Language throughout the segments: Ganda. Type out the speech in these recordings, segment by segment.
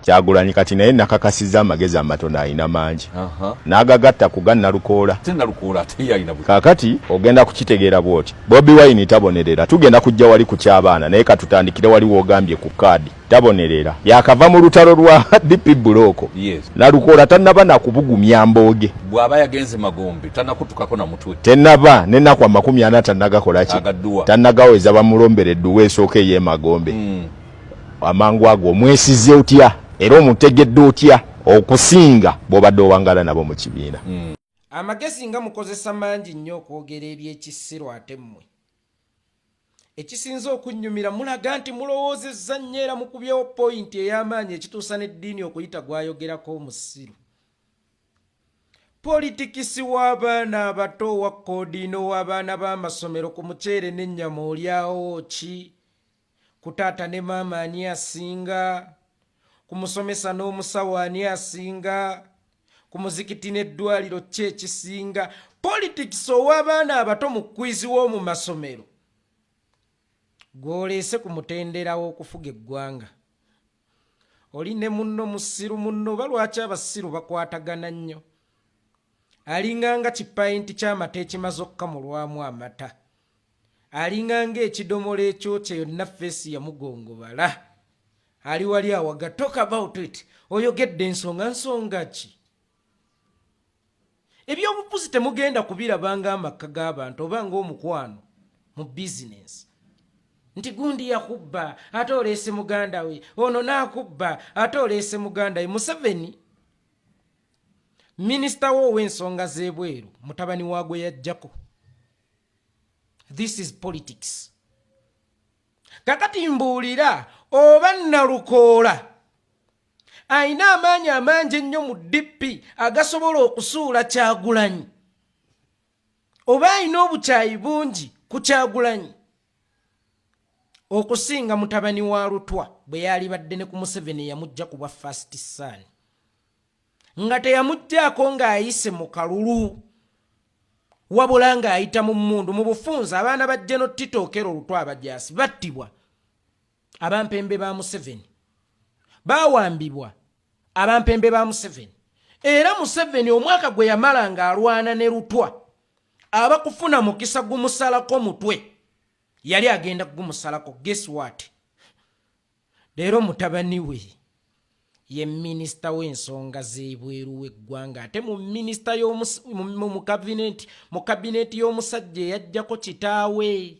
kyagulanyi kati naye nakakasiza amagezi amatono alina mangi nagagatta kuga nalukoola kakati ogenda kukitegeera bwoti bobi wine tabonerera tugenda kujja wali ku kyabaana naye katutandikire wali wogambye ku kaadi tabonerera yakava mu lutalo lwa dp bulooko nalukoola tanaba nakubugumya mbooge bwaba yagenze magombe tanakutukako namutwe tenaba nenaku amakumi ana tanagakolaki tanagaweza bamulombera edduwa esooka eyemagombe mm. amangu ago omwesize otya era omutegedde otya okusinga bwobadde owangala nabo mu kibiina hmm. amagezi nga mukozesa mangi nnyo okwogera ebyekisiru ate mmwe ekisinza okunnyumira mulaga nti mulowoozezza nnyo era mukubyewo poyinti ey'amaanyi ekituusa n'eddiini okuyita gwayogerako omusiru politikisi w'abaana abato owa koodiina ow'abaana b'amasomero ku muceere n'ennyama olyawo ki Ku taata ne maama ani asinga? Ku musomesa n'omusawo ani asinga? Ku muzikiti n'eddwaliro ki ekisinga? Politics ow'abaana abato mu kwizi w'omu masomero gw'oleese ku mutendera w'okufuga eggwanga. Oli ne munno musiru munno oba lwaki abasiru bakwatagana nnyo? Alinganga kipayinti ky'amata ekimaze okukamulwamu amata. Alinga nga ekidomola ekyokya yonna face yamugongobala. Ali wali awaga talk about it. Oyogedde ensonga nsonga ki? Ebyobufuzi temugenda kubiraba nga amakka g'abantu oba nga omukwano mu business. Nti gundi yakubba ate oleese muganda we, ono n'akubba ate oleese muganda we. Museveni minisita we ow'ensonga z'ebweru mutabani waagwe yajjako. this is politics kakati mbuulira oba nalukoola alina amaanyi amangi ennyo mu dp agasobola okusuula kyagulanyi oba alina obukyayi bungi ku kyagulanyi okusinga mutabani wa lutwa bwe yaalibadde ne ku museveni yamujja ku bwa fast sun nga teyamuggyaako ng'ayise mu kalulu wabula ng'ayita mu mmundu mu bufunza abaana ba jeno tito okero olutw abajaasi battibwa abampembe ba museveni baawambibwa abampembe ba museveni era museveni omwaka gwe yamala ng'alwana ne lutwa aba kufuna mukisa gumusalako mutwe yali agenda kugumusalako geswat Leero mutabani we ye minisita w'ensonga z'ebweru w'eggwanga ate mu minisita mu kabineeti y'omusajja eyajjako kitaawe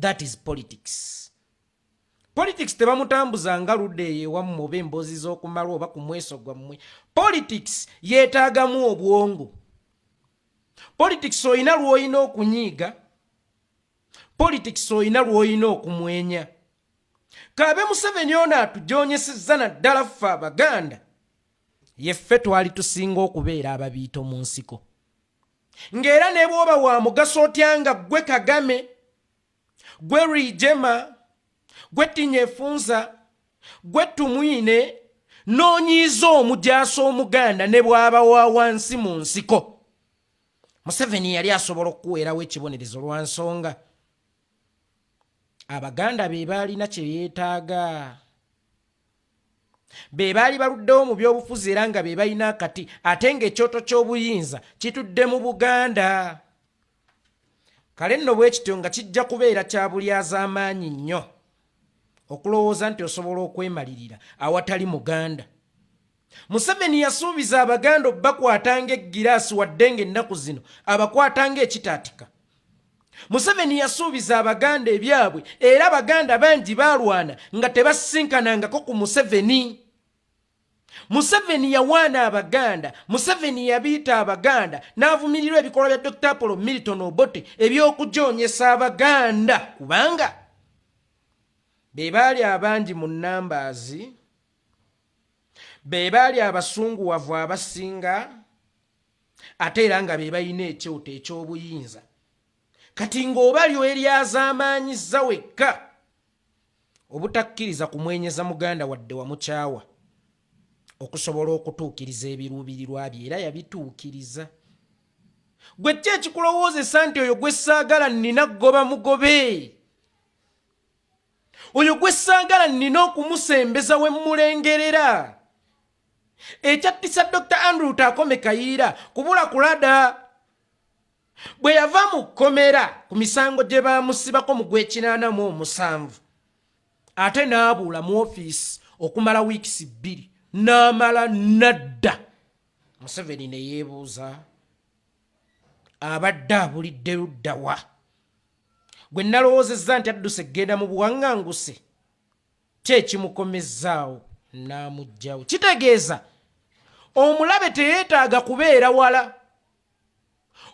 that is politics politics tebamutambuza nga ludde eyo ewammwe oba emboozi z'okumalwa oba ku mweso gwammwe politics yeetaagamu obwongo politics olina lw'olina okunyiiga politics oyina lwoyina okumwenya kabe museveni ono atujonyesezza naddala ffe abaganda yeffe twali tusinga okubeera ababiito mu nsiko ng'era ne bwoba wa mugaso otya nga gwe kagame gwe rijema gwe tinya efunza gwe tumwine noonyiiza omujaasi omuganda ne bwaba wa wansi mu nsiko museveni yali asobola okukuweerawo ekibonerezo lwa nsonga abaganda be baalina kye yeetaaga be baali baluddewo mu byobufuzi era nga be balina akati ate ng'ekyoto ky'obuyinza kitudde mu buganda kale nno bwe kityo nga kijja kubeera kya bulyazaamaanyi nnyo okulowooza nti osobola okwemalirira awatali muganda Museveni yasuubiza Abaganda okubakwata ng'eggiraasi wadde ng'ennaku zino abakwata ng'ekitaatika. Museveni yasuubiza Abaganda ebyabwe era Abaganda bangi baalwana nga tebasisinkanangako ku Museveni. Museveni yawaana Abaganda, Museveni yabiita Abaganda n'avumirirwa ebikolwa bya Dr Apollo Milton Obote eby'okujoonyesa Abaganda kubanga be baali abangi mu nnambaazi. be baali abasunguwavu abasinga ate era nga be balina ekyoto eky'obuyinza kati ng'oba lyweryazaamaanyizza wekka obutakkiriza kumwenyeza muganda wadde wamukyawa okusobola okutuukiriza ebiruubirirwa bye era yabituukiriza gwe ki ekikulowoozesa nti oyo gwe ssaagala nnina goba mugobe oyo gwe saagala nnina okumusembeza we mmulengerera ekyattisa dr andrew taakome kayiira kubula kulada bwe yava mu kkomera ku misango gye baamusibako mu gwekinaana mu omusanvu ate n'abuula mu ofiisi okumala wiikisi bbiri n'amala nadda museveni ne yeebuuza abadde abulidde luddawa gwe nalowoozezza nti adduse kugenda mu buwaŋŋanguse kye ekimukomezzaawo n'amugyawo kitegeeza omulabe teyeetaaga kubeera wala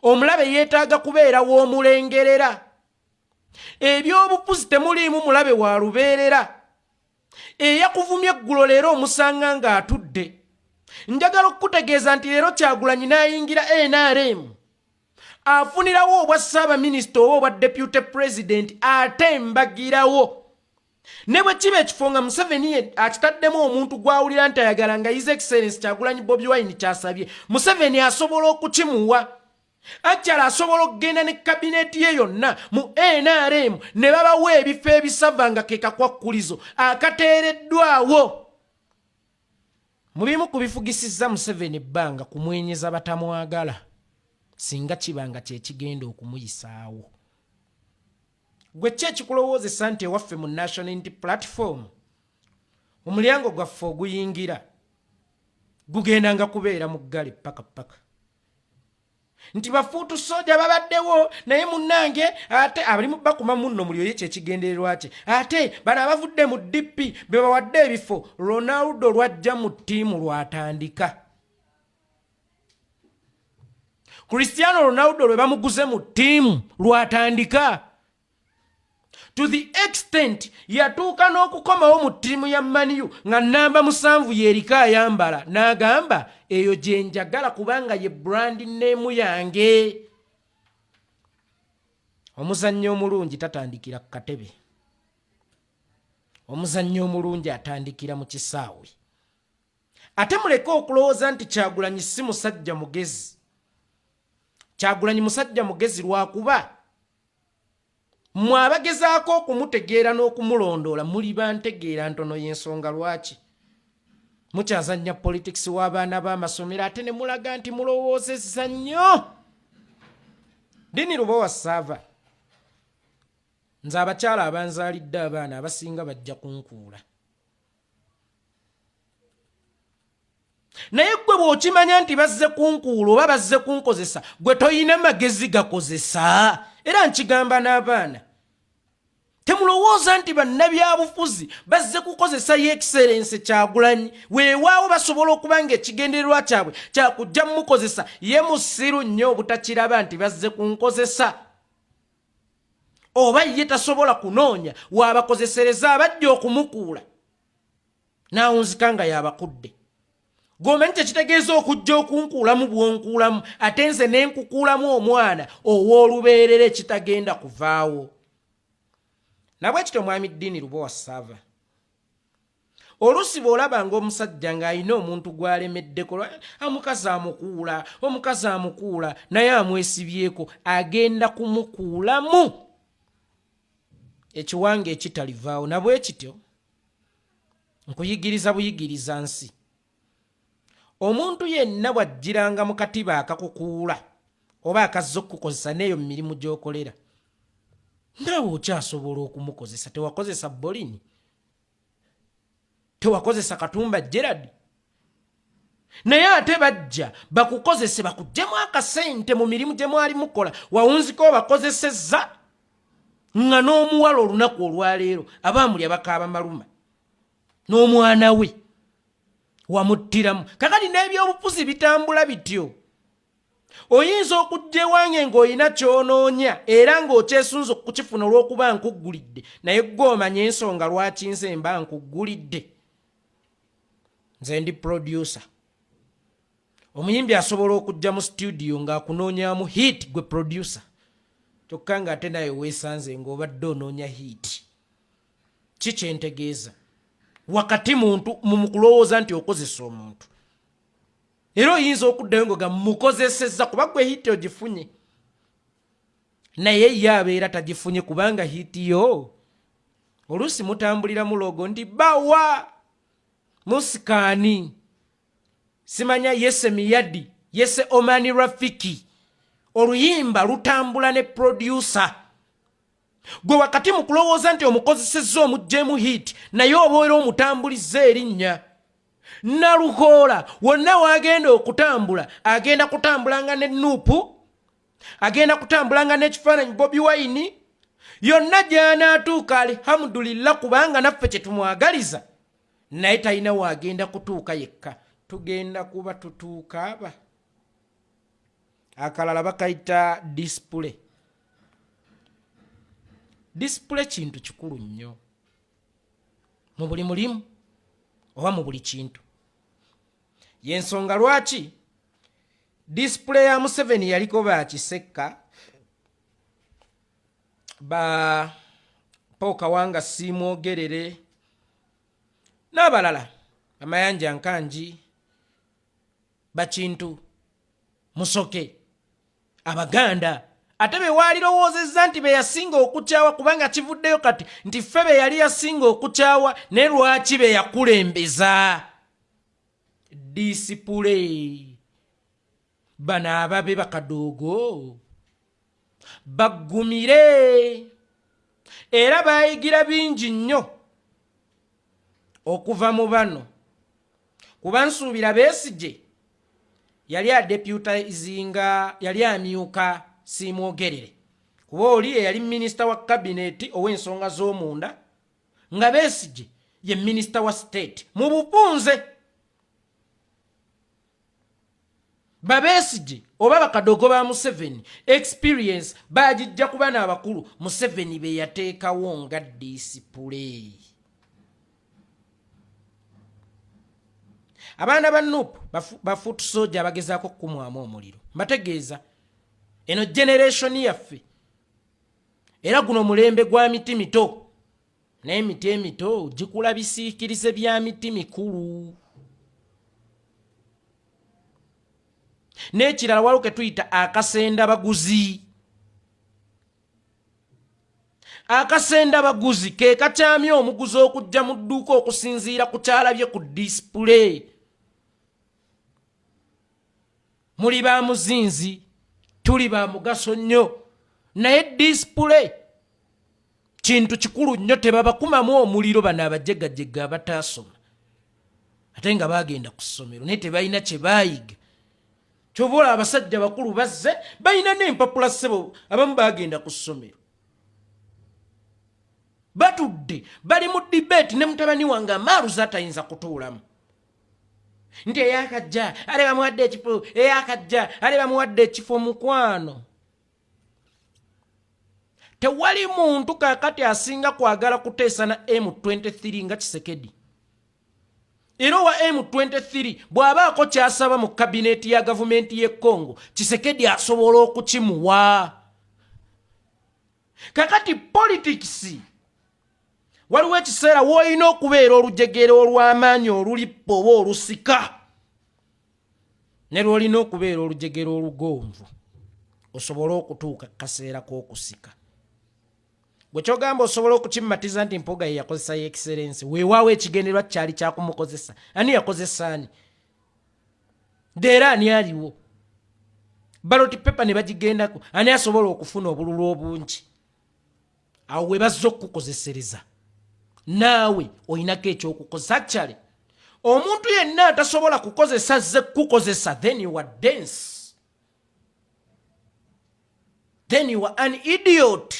omulabe yeetaaga kubeera w'omulengerera ebyobufuzi temuliimu mulabe wa lubeerera eyakuvumye eggulo leero omusanga ng'atudde njagala okukutegeeza nti leero kyagulanyi n'ayingira nrm afunirawo obwa ssaabaminisita oba obwa deputy president ate mbagirawo ne bwe kiba ekifo nga museveni ye akitaddemu omuntu gwawulira nti ayagala nga his excellence kyagulanyi bobi wine kyasabye museveni asobola okukimuwa ajjala asobola okugenda ne kabineeti ye yonna mu nrm ne babawa ebifo ebisava nga ke kakwakkulizo akateereddwawo Mu bimu ku bifugisizza Museveni ebbanga kumwenyeza batamwagala singa kiba nga kye kigenda okumuyisaawo. Gwe ki ekikulowoozesa nti ewaffe mu National Unity Platform omulyango gwaffe oguyingira gugenda nga kubeera muggale ppaka ppaka? nti bafuutu soja babaddewo naye munange ate abalimu bakuma munno muli oye kyekigendererwa kye ate bano abavudde mu dp bebawadde ebifo ronaldo lwajja mu ttiimu lwatandika kristiano ronaldo lwe bamuguze mu ttiimu lwatandika to the extent yatuuka n'okukomawo mu ttiimu ya maniyu nga namba musanvu yeriko ayambala n'agamba eyo gye njagala kubanga ye brandi neemu yange omuzannyi omulungi tatandikira ku katebe omuzannyi omulungi atandikira mu kisaawe ate muleke okulowooza nti kyagulanyi si musajja mugezi kyagulanyi musajja mugezi lwakuba mwe abagezaako okumutegeera n'okumulondoola muli bantegeera ntono y'ensonga lwaki mukyazannya politikisi w'abaana b'amasomero ate ne mulaga nti mulowoozezza nnyo dini lubowa saava nze abakyala abanzaalidde abaana abasinga bajja kunkuula naye gwe bw'okimanya nti bazze kunkuula oba bazze kunkozesa gwe tolina magezi gakozesa era nkigamba n'abaana temulowooza nti bannabyabufuzi bazze kukozesa ye ekiserense kyagulanyi weewaawo basobola okuba nga ekigendererwa kyabwe kyakujja mukozesa ye musiru nnyo obutakiraba nti bazze kunkozesa oba ye tasobola kunoonya waabakozesereza abajja okumukuula n'awunzika nga yabakudde gomanyi kyekitegeeza okujja okunkuulamu bwonkuulamu ate nze nenkukuulamu omwana ow'olubeerera ekitagenda kuvaawo nabwe kityo mwami ddiini lubowa saava oluusi bw'olaba ng'omusajja ng'alina omuntu gw'alemeddeko omukazi amukuula omukazi amukuula naye amwesibyeko agenda kumukuulamu ekiwanga ekitalivaawo nabwe kityo nkuyigiriza buyigiriza nsi omuntu yenna bw'ajjiranga mu katiba akakukuula oba akazza okukukozesa n'eyo mu mirimu gy'okolera naawe okyasobola okumukozesa tewakozesa bolini tewakozesa katumba gerard naye ate bajja bakukozese bakujjemu akasente mu mirimu gye mwali mukola wawunzika obakozesezza nga n'omuwala olunaku olwaleero abaamulya bakaaba maluma n'omwana we wamuttiramu kakati n'ebyobufuzi bitambula bityo oyinza okujja ewange ng'olina ky'onoonya era ng'okyesunza okukifuna olw'okuba nkuggulidde naye ggwe omanya ensonga lwaki nze mba nkuggulidde nze ndi producer omuyimbi asobola okujja mu situdiyo ng'akunoonyamu hiit gwe producer kyokka ng'ate naye weesanze ng'obadde onoonya hiit ki kyentegeeza wakati muntu mu kulowooza nti okozesa omuntu era oyinza okuddayo nga mukozesezza kuba gwe hiiti ogifunye naye ye abeera tagifunye kubanga hiiti yo oluusi mutambulira mulogo nti bawa musikaani simanya yese miyadi yese omani rafiki oluyimba lutambula ne producer gwe wakati mu kulowooza nti omukozesezza omuggyemu hiiti naye obaera omutambulizza erinnya nalukoola wonna wagenda okutambula agenda kutambulanga ne nuupu agenda kutambulanga n'ekifaananyi bobi wayini yonna gyanaatuuka alihamudulillah kubanga naffe kye tumwagaliza naye talina waagenda kutuuka yekka tugenda kuba tutuuka aba akalala bakayita disipule disipule kintu kikulu nnyo mu buli mulimu oba mu buli kintu yensonga lwaki disipule ya museveni yaliko bakisekka ba paul kawanga siimwogerere n'abalala amayanja nkangi bakintu musoke abaganda ate be waalirowoozezza nti be yasinga okukyawa kubanga kivuddeyo kati nti ffe be yali yasinga okukyawa ne lwaki be yakulembeza disipule bano ababe bakadoogo baggumire era baayigira bingi nnyo okuva mu bano kuba nsuubira beesigye yali adepyuta izinga yali amyuka siimwogerere kuba oli eyali minisita wa kabineeti ow'ensonga z'omunda nga beesigye ye minisita wa state mu bupunze babesigye oba bakadogo ba museveni experience bagijja ku bana abakulu museveni beyateekawo nga disipule abaana ba nup bafuutu soja abagezaako okukumwamu omuliro mbategeeza eno generation yaffe era guno mulembe gwa miti mito n'emiti emito gikula bisiikirize bya miti mikulu n'ekirala waliwo ke tuyita akasenda baguzi akasenda baguzi ke kakyamya omuguzi okujja mu dduuka okusinziira ku kyalabye ku disipule muli ba muzinzi tuli ba mugaso nnyo naye disipule kintu kikulu nnyo tebabakumamu omuliro bano abajegajega abataasoma ate nga baagenda ku ssomero naye tebalina kye baayiga kyobola abasajja bakulu bazze balina n'empapula ssebo abamu baagenda ku ssomero batudde bali mu dibeeti ne mutabani wange amaaruza atayinza kutuulamu nti eyakajja ale bamuwadde ekifo eyakajja ale bamuwadde ekifo mukwano tewali muntu kakati asinga kwagala kuteesa na m23 nga kisekedi era owa m23 bw'abaako kyasaba mu kabineeti ya gavumenti y'e congo kisekedi asobola okukimuwa kakati politics waliwo ekiseera woolina okubeera olujegere olw'amaanyi olulippa oba olusika ne lwolina okubeera olujegere olugonvu osobole okutuuka kaseera k'okusika gwe kyogamba osobola okukimmatiza nti mpoga ye yakozesa yekiserensi weewaawo ekigenderwa kyali kyakumukozesa ani yakozesa ani era ani aliwo baloti pepa ne bagigendako ani asobola okufuna obululu obungi awo we bazza okukukozesereza naawe olinako ekyokukozesa kyale omuntu yenna atasobola kukozesa ze kukukozesa then you are dense then you are an idiot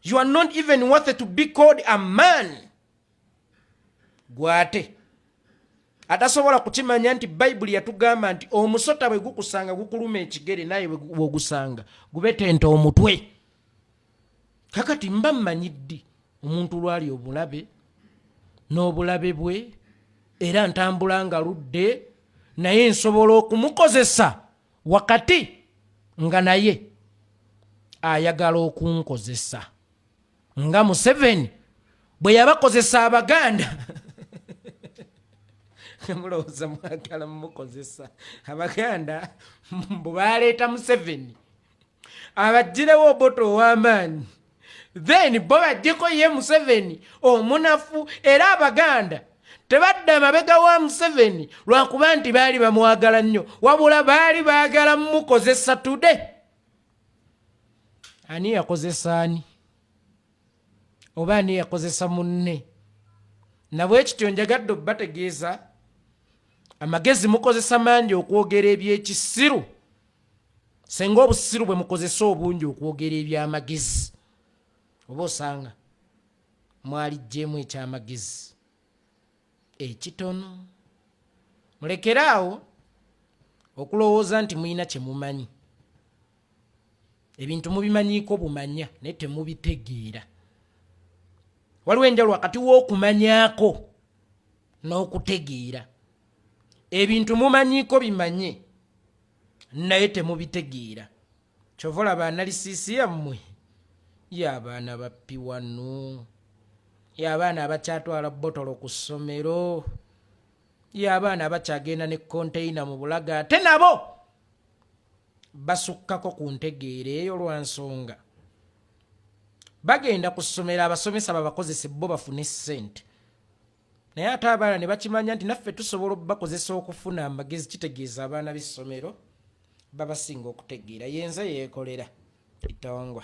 you are not even worthy to be called a man gwate atasobola kukimanya nti bayibuli yatugamba nti omusota bwe gukusanga gukuluma ekigere naye wegusanga gubetenta omutwe kakati mba mmanyi ddi omuntu lwali obulabe n'obulabe bwe era ntambula nga ludde naye nsobola okumukozesa wakati nga naye ayagala okunkozesa nga museveni bwe yabakozesa abaganda mulowooza mwagala mumukozesa abaganda mbu baleeta museveni abagirewo oboto ow'amaanyi then bo bajjeko ye museveni omunafu era abaganda tebadda mabega wa museveni lwakuba nti baali bamwagala nnyo wabula baali baagala mukozesa tude ani yakozesa ani oba ani yakozesa munne nabwe kityo njagadde obubategeeza amagezi mukozesa mangi okwogera ebyekisiru senga obusiru bwe mukozesa obungi okwogera ebyamagezi oba osanga mwalijjeemu ekyamagezi ekitono mulekere awo okulowooza nti mulina kye mumanyi ebintu mubimanyiiko bumanya naye temubitegeera waliwo enjalo wakati w'okumanyako n'okutegeera ebintu mumanyiiko bimanye naye temubitegeera kyova olaba analisisi yammwe yabaana bappi wano yabaana abakyatwala botolo ku ssomero yabaana abakyagenda ne konteyina mu bulaga ate nabo basukkako ku ntegeera eyo lwa nsonga bagenda ku ssomero abasomesa babakozese bo bafune ssente naye ate abaana ne bakimanya nti naffe tusobola okubakozesa okufuna amagezi kitegeeza abaana b'essomero babasinga okutegeera yenze yeekolera itongwa